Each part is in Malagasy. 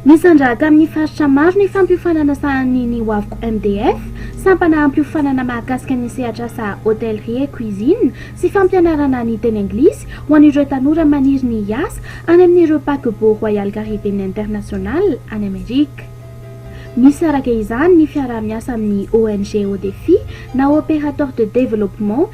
Nisandra tamin'ny faritra maro ny fampiofanana sahanin'ny ny Wavco MDF, sampana hampiofanana mahakasika ny sehatr'asa Hôtellerie et Cuisine sy fampianarana ny teny anglisy ho an'ireo tanora maniry ny hiasa any amin'ireo paquebot Royal Caribbean International any Amerika. Misaraka izany ny fiaraha-miasa amin'ny ONG Au Défi na Opérateur de Développement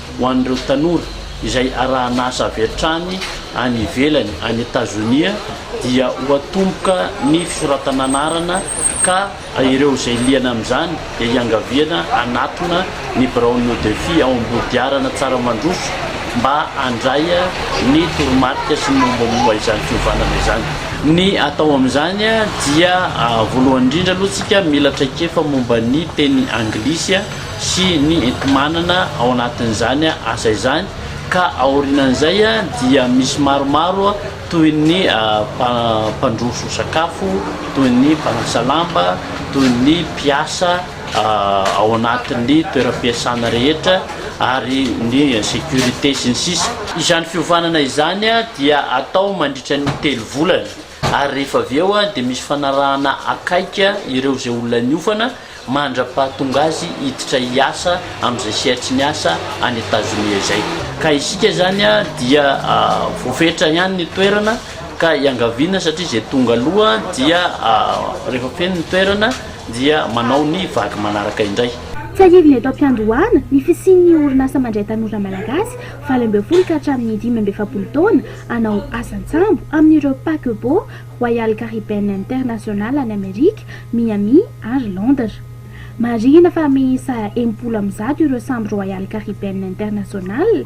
ho an'ireo tanora izay arahan'asa avy hatrany any ivelany, any Etazonia, dia ho atomboka ny fisoratana anarana ka ireo izay liana amin'izany dia hiangaviana hanatona ny biraon'ny Odefi ao Ambodiarana Tsaramandroso mba handray ny toromarika sy ny mombamomba izany fiovànana izany. Ny atao amin'izany dia voalohany indrindra aloha isika mila traikefa momba ny teny anglisy. sy ny enti-manana ao anatin'izany asa izany ka aorianan'izay dia misy maromaro toy ny mpandroso sakafo, toy ny mpanasa lamba, toy ny mpiasa ao anatin'ny toeram-piasana rehetra ary ny sécurité sy ny sisa. Izany fiovanana izany dia atao mandritra ny telo volana ary rehefa avy eo dia misy fanarahana akaiky ireo izay olona niofana mandra-pahatonga azy hiditra hiasa amin'izay sehatry ny asa any Etazonia izay. Ka isika izany dia voafetra ihany ny toerana ka iangaviana satria izay tonga aloha dia rehefa feno ny toerana dia manao ny vague manaraka indray. Tsiahivina eto am-piandohana ny fisian'ny orinasa mandray tanora malagasy valo ambin'ny folo ka hatramin'ny dimy amby efapolo taona hanao asa an-tsambo amin'ireo paquebots, Royal Caribbean International any Amerika, Miami ary Londres. Marihina fa miisa enimpolo amby zato ireo sambo Royal Caribbean International,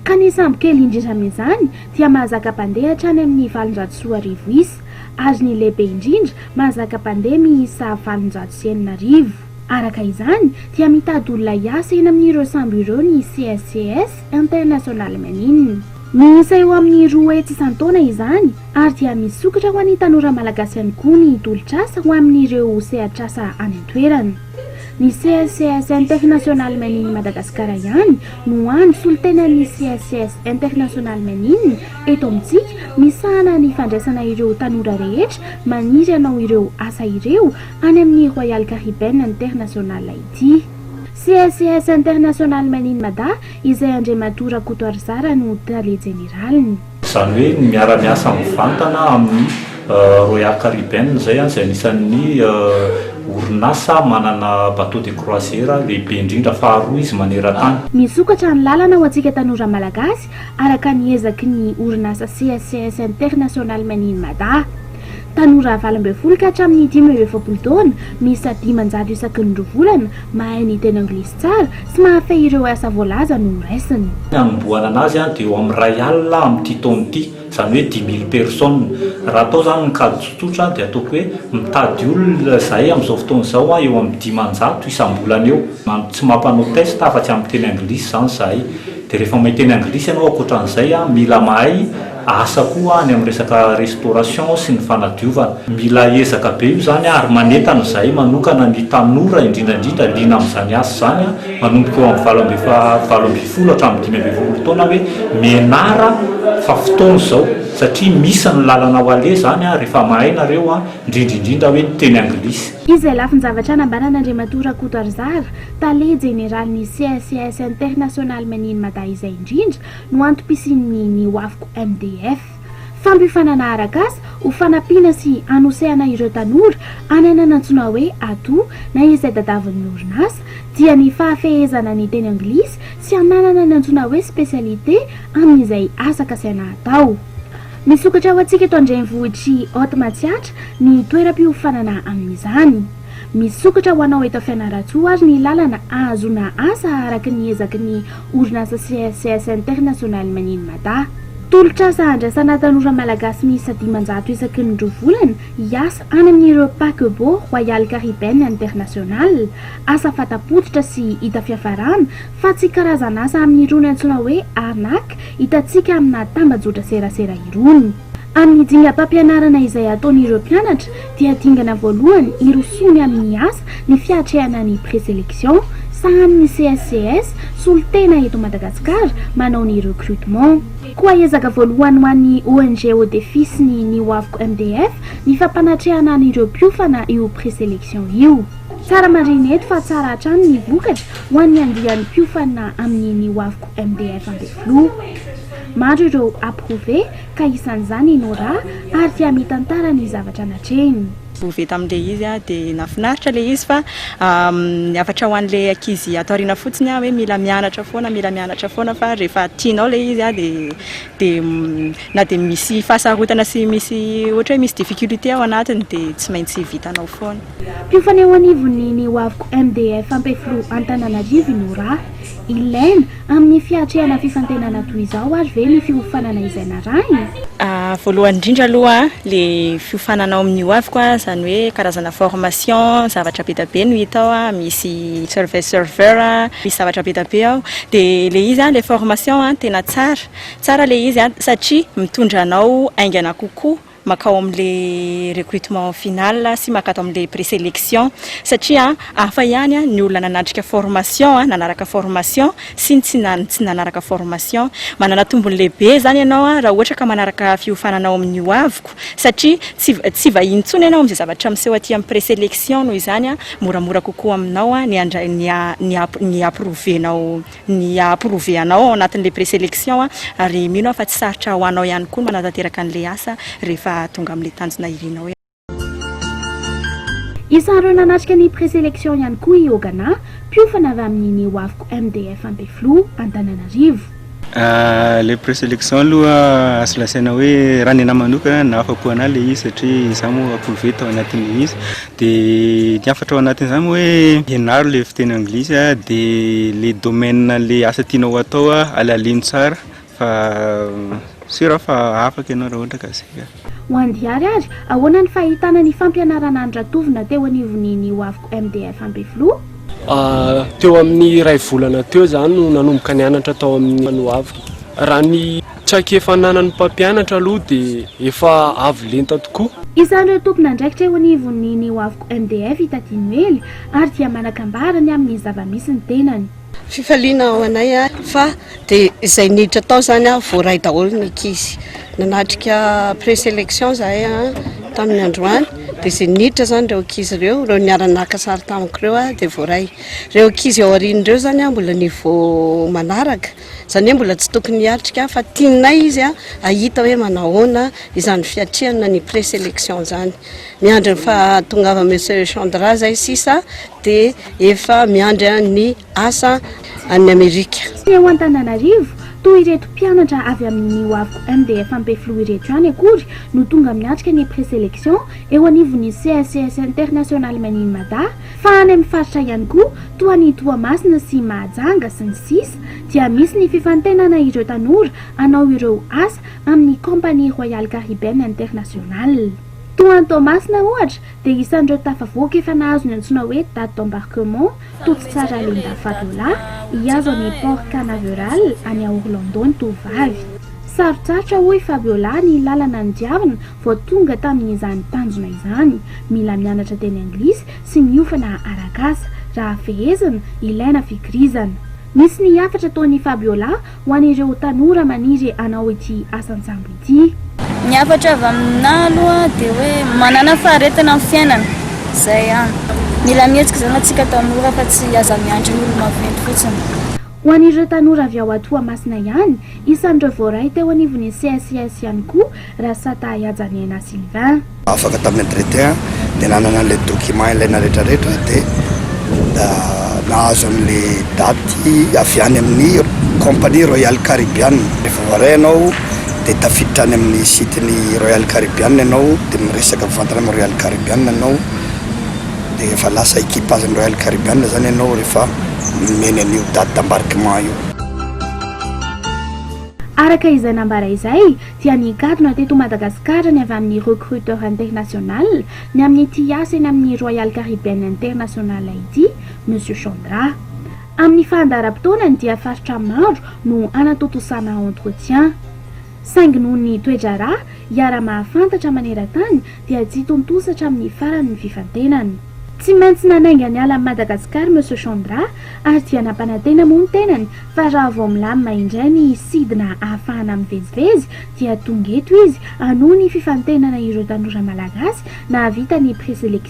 ka ny sambo kely indrindra amin'izany dia mahazaka mpandeha hatrany amin'ny valonjato sy roa arivo isa, ary ny lehibe indrindra mahazaka mpandeha miisa valonjato sy enina arivo. Araka izany dia mitady olona hiasa eny amin'ireo sambo ireo ny CSCS International Manine. Miisa eo amin'ny roa hetsy isan-taona izany ary dia misokatra ho an'ny tanora malagasy ihany koa ny tolotr'asa ho amin'ireo sehatr'asa any an-toerana. Ny CSCS International Manine Madagasikara ihany no hany solontenan'ny CSCS International Manine eto amintsika misahana ny fandraisana ireo tanora rehetra maniry hanao ireo asa ireo Any amin'ny Royal Caribbean International ity. CSCS International Made in Mada izay Andriamatoa Rakoto Arizara no Tale Jeneraliny. Izany hoe ny miara-miasa mivantana amin'ny Royal Caribbean izay izay anisan'ny orinasa manana bateau de croisière lehibe indrindra faharoa izy maneran-tany. Misokatra ny lalana ho antsika tanora Malagasy araka ny ezaky ny orinasa CSCS International Made in Mada. Tanora valo ambin'ny folo ka hatramin'ny dimy amby efapolo taona, miisa dimanjato isaky ny roa volana, mahay ny teny anglisy tsara sy mahafehy ireo asa voalaza no horaisina. Ny hanombohana anazy dia eo amin'ny iray alina amin'ity taona ity, izany hoe dix mille personnes. Raha atao izany ny kajy tsotsotra dia ataoko hoe mitady olona izahay amin'izao fotoana izao eo amin'ny dimanjato isam-bolana eo, tsy mampanao test afa-tsy amin'ny teny anglisy izany izahay. Dia rehefa mahay teny anglisy ianao ankoatra an'izay, mila mahay. asa koa any amin'ny resaka restauration sy ny fanadiovana. Mila ezaka be io izany ary manentana izahay manokana ny tanora indrindra indrindra liana amin'izany asa izany manomboka eo amin'ny valo ambin'ny valo ambin'ny folo hatramin'ny dimy ambin'ny folo taona hoe mianara fa fotoana izao satria misy ny lalana ho aleha izany rehefa mahay nareo indrindra indrindra hoe ny teny anglisy. Izy izay lafin-javatra nambaran'Andriamatoa Rakoto Arizara, tale jeneralin'ny CSCS International Made in Mada izay indrindra no antom-pisian'ny ny hoaviko MDF. Fampiofanana arak'asa ho fanampiana sy hanosehana ireo tanora any ananantsoina hoe ato na izay tadavin'ny orinasa dia ny fahafehezana ny teny anglisy sy hananana ny antsoina hoe spécialité amin'izay asa kasaina atao. Misokatra ho antsika eto an-drenivohitr'i Haute Matsiatra ny toeram-piofanana amin'izany. Misokatra ho anao eto Fianarantsoa ary ny lalana ahazoana asa araka ny ezaky ny Orinasa CSCS International Maneno Mada. Tolotr'asa handraisana tanora malagasy miisa dimanjato isaky ny roa volana hiasa any amin'ireo paquebot Royal Caribbean International. Asa fata-pototra sy hita fiafarana fa tsy karazan'asa amin'irony antsoina hoe arnaque hitantsika aminà tambajotra serasera irony. Amin'ny dingam-pampianarana izay ataon'ireo mpianatra dia dingana voalohany hirosoany amin'ny asa ny fiatrehana ny Pré-sélection, sahanin'ny CSCS, solontena eto Madagasikara, manao ny recrutement. Koa ezaka voalohany ho an'ny ONG Au Défi sy ny Ny Hoaviko MDF ny fampanatrehana an'ireo mpiofana io Pré-sélection io. Tsara marihina eto fa tsara hatrany ny vokatra ho an'ny andiany mpiofana amin'ny Ny Hoaviko MDF Ampefiloha. Maro ireo approuvé ka isan'izany i Nora ary tia mitantara ny zavatra natrehiny. Approuvé tamin'ilay izy aho dia nahafinaritra ilay izy fa ny hafatra ho an'ilay ankizy ato aoriana fotsiny hoe mila mianatra foana, mila mianatra foana fa rehefa tianao ilay izy dia na dia misy fahasarotana sy misy ohatra hoe misy difficulté ao anatiny dia tsy maintsy vitanao foana. Mpiofaneo anivon'ny ny Hoaviko MDF Ampefiloha Antananarivo i Nora. Ilaina. Amin'ny fiatrehana fifantenana toy izao ary ve ny fiofanana izay narahina? Voalohany indrindra aloha le fiofanana ao amin'ny hoaviko a, izany hoe karazana formation, zavatra be dia be no hita ao, misy survey server, misy zavatra be dia be ao, dia le izy a, le formation a, tena tsara, tsara le izy a, satria mitondra anao haingana kokoa. makao amin'le recrutement final sy makato amin'le preselection satria hafa ihany ny olona nanatrika formation a, nanaraka formation sy ny tsy nany tsy nanaraka formation. Manana tombony lehibe zany ianao a raha ohatra ka manaraka fiofanana ao amin'ny hoaviko satria tsy tsy vahiny intsony ianao amin'izay zavatra miseho aty amin'ny preselection noho izany a moramora kokoa aminao ny handray ny ny ny aprouver-nao ny ha approver anao ao anatin'ilay preselection ary mino aho fa tsy sarotra ho anao ihany koa ny manatanteraka an'ilay asa rehefa tonga amin'ilay tanjona irinao Isan'ireo nanatrika ny preselection ihany koa i Ogana, mpiofana avy amin'ny ny Hoaviko MDF Ampefiloha, Antananarivo. Ilay preselection aloha azo lazaina hoe raha ny anah manokana nahafapo anah ilay izy satria izaho moa approve tao anatin'ilay izy. Dia ny hafatra ao anatin'izany moa hoe ianaro ilay fiteny anglisy dia ilay domaine an'ilay asa tianao hatao halalino tsara fa sûr aho fa afaka ianao raha ohatra ka izay ka. Ho an'i Diary ary, ahoana ny fahitana ny fampianarana an'i Ratovona teo anivon'ny ny hoaviko MDF Ambifiloha? Teo amin'ny iray volana teo izaho no nanomboka nianatra tao amin'ny ny hoaviko. Raha ny. Traikefa ananan'ny mpampianatra aloha dia efa avo lenta tokoa. Isan'ireo tompon'andraikitra eo anivon'ny ny Wavco MDF i Taty Noely ary dia manakambara ny amin'ny zava-misy ny tenany. Fifaliana ao anay fa dia izay niditra tao izany voaray daholo ny ankizy. Nanatrika pré-sélection izahay tamin'ny androany dia izay niditra izany ireo ankizy ireo, ireo niara-naka sary tamiko ireo dia voaray. Ireo ankizy ao aoriana ireo izany mbola niveau manaraka. Izany hoe mbola tsy tokony hiatrika fa tianay izy hahita hoe manahoana izany fiatrehana ny pré-sélection izany. Miandry ny fahatongavan'i Monsieur Chandra izay sisa dia efa miandry ny asa any Amerika. Teo Antananarivo, toa ireto mpianatra avy amin'ny ny Hoaviko MDF Ampefiloha ireto ihany akory no tonga miatrika ny pré-sélection eo anivon'ny CSCS International Made in Mada, Fa any amin'ny faritra ihany koa, toa an'i Toamasina sy Mahajanga sy ny sisa, dia misy ny fifantenana ireo tanora hanao ireo asa amin'ny Compagnie Royale Caribbeenne Internationale. Toa an'i Toamasina ohatra dia isan'ireo tafavoaka efa nahazo ny antsoina hoe date d'embarquement, Toto Tsara Linda Fabiola, hihazo an'i Port Canaveral any Orlando ny tovovavy. Sarotsarotra hoy i Fabiola ny lalana nodiavina Vao tonga tamin'izany tanjona izany, mila mianatra teny anglisy sy miofana arak'asa. Raha fehezina, ilaina fikirizana. Nisy ny hafatra ataon'i Fabiola ho an'ireo tanora maniry hanao ity asan-tsambo ity. Ny hafatra avy aminà aloha dia hoe manàna faharetana amin'ny fiainana. Izay ihany. Mila mihetsika izany antsika tanora fa tsy aza miandry ny olo-maventy fotsiny. Ho an'ireo tanora avy ao Atoamasina ihany, isan'ireo voaray teo anivon'ny CSIS ihany koa Rasatahy Hajaniaina Sylvain. Afaka tamin'ny entretien dia nanana an'ilay document ilaina rehetrarehetra dia nahazo an'ilay daty avy any amin'ny compagnie Royal Caribbean. Rehefa voaray ianao dia tafiditra any amin'ny site-n'ny Royal Caribbean ianao dia miresaka mivantana amin'ny Royal Caribbean ianao. Dia efa lasa equipage ny Royal Caribbean zany ianao rehefa nomeny an'io date d'embarquement io. Araka izay nambara izay dia nikatona teto Madagasikara ny avy amin'ny Recruteur International ny amin'ity hiasa eny amin'ny Royal Caribbean International ity, Monsieur Chandra. Amin'ny fahandaharam-potoanany dia faritra maro no hanatontosana entretien. Saingy noho ny toe-draharaha iara-mahafantatra maneran-tany dia tsy hitontosa hatramin'ny farany ny fifantenana. Tsy maintsy nanainga niala an'i Madagasikara Monsieur Chandra ary dia nampanantena moa ny tenany fa raha vao milamina indray ny sidina hahafahana mivezivezy dia tonga eto izy hanohy ny fifantenana ireo tanora malagasy nahavita ny présélections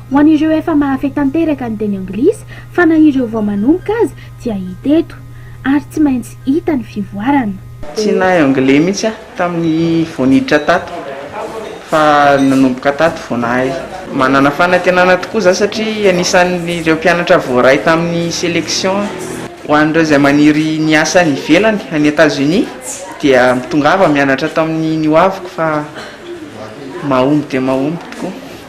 Ho an'ireo efa mahafehy tanteraka ny teny anglisy fa na ireo vao manomboka aza dia hita eto. Ary tsy maintsy hita ny fivoarana. Tsy nahay anglais mihitsy aho tamin'ny vao niditra tato fa nanomboka tato vao nahay. Manana fanantenana tokoa za satria anisan'ireo mpianatra voaray tamin'ny selection aho. Ho an'ireo izay maniry ny asa any ivelany, any Etazonia, dia mitongava mianatra ato amin'ny ny hoaviko fa mahomby dia mahomby tokoa.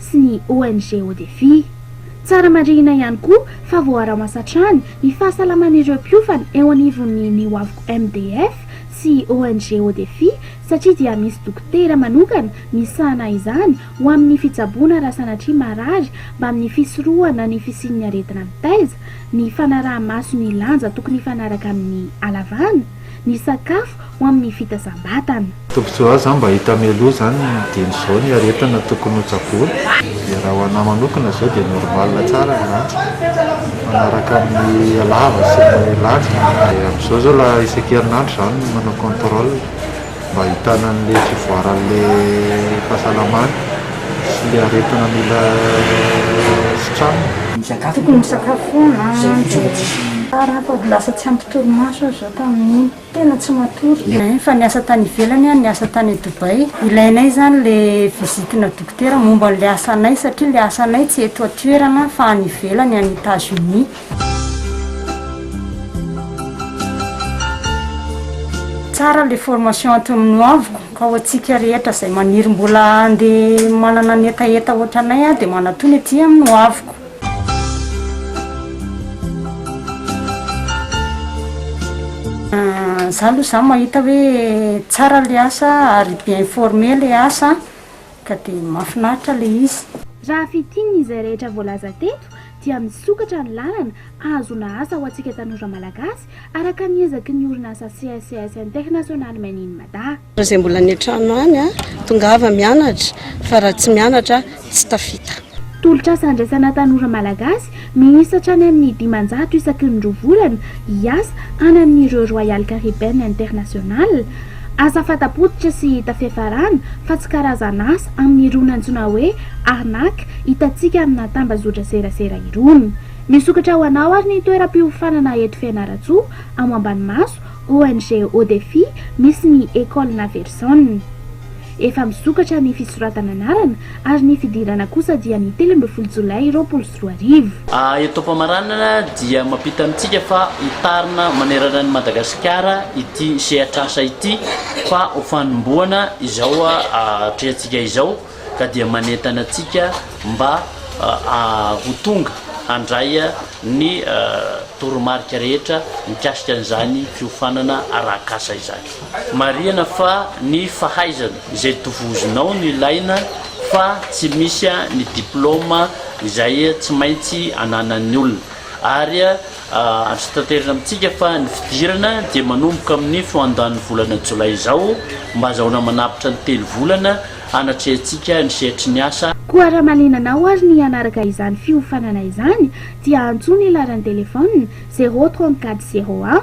sy ny ONG ODEFI. Tsara marihina ihany koa fa voaaraoansa hatrany ny fahasalaman'ireo mpiofana eo anivon'ny ny Wavco MDF sy ONG ODEFI satria dia misy dokotera manokana misahana izany ho amin'ny fitsaboana raha sanatria marary mbamin'ny fisorohana ny fisian'ny aretina mitaiza ny fanaraha-maso ny lanja tokony hifanaraka amin'ny halavana ny sakafo ho amin'ny fitazam-batana. Tombotsoa azo zany mba hita mialoha zany ny dieny zao ny aretina tokony ho tsaboina dia raha ho anah manokana zao dia normal tsara ny lanjako mifanaraka amin'ny halava sy ny lanjako dia amizao zao la isaky herinandro za no manao controle. mba ahitana an'ilay fivoaran'ilay fahasalamana sy ilay aretina mila sitranina. Tokony misakafo foana tsara fa lasa tsy ampy torimaso aho izao tamin'iny, tena tsy matory. Efa niasa tany ivelany aho, niasa tany Dubai. Ilainay izany ilay visitina dokotera momba an'ilay asanay satria ilay asanay tsy eto an-toerana fa any ivelany, any Etats-Unis. Tsara le formation ato amin Noaviko ka ho antsika rehetra zay maniry mbola hande manana ny hetaheta otranay a de manatony aty amin Noaviko. Za aloha zany mahita hoe tsara le asa ary bien informer le asa. ka dia mahafinaritra ilay izy. Raha fintinina izay rehetra voalaza teto dia misokatra ny lalana hahazoana asa ho antsika tanora malagasy araka ny ezaky ny orinasa CSCS International Men in Mada. Izay mbola any an-trano any a, tongava mianatra fa raha tsy mianatra tsy tafita. Tolotr'asa handraisana tanora malagasy Miisa hatrany amin'ny dimanjato isaky ny roa volana hiasa any amin'ireo Royal Caribbean International. Asa fanta-pototra sy hita fiafarana fa tsy karazan'asa amin'irony antsoina hoe arnaque hitantsika amina tambazotran-tserasera irony. Misokatra ho anao ary ny toeram-piofanana eto Fianarantsoa, ao Ambanimaso, ONG Au Défi, misy ny Ecole Naverson. Efa misokatra ny fisoratana anarana ary ny fidirana kosa dia ny telo ambin'ny folo jolay roapolo sy roa arivo. Eto am-pamaranana dia mampita amintsika fa hitarina manerana an'i Madagasikara ity sehatr'asa ity fa ho fanombohana izao atrehantsika izao ka dia manentana antsika mba ho tonga handray ny toromarika rehetra mikasika an'izany fiofanana arak'asa izany. Marihana fa ny fahaizana izay tovozinao no ilaina fa tsy misy ny diplôma izay tsy maintsy ananan'ny olona ary azo tanterina amintsika fa ny fidirana dia manomboka amin'ny foandanin'ny volana jolay izao mba azahoana manapitra ny telo volana hanatrehantsika ny sehatry ny asa Koa raha malinanao ary ny hanaraka izany fiofanana izany dia antso ny laharan'ny telefaonina zéro trente-quatre zéro un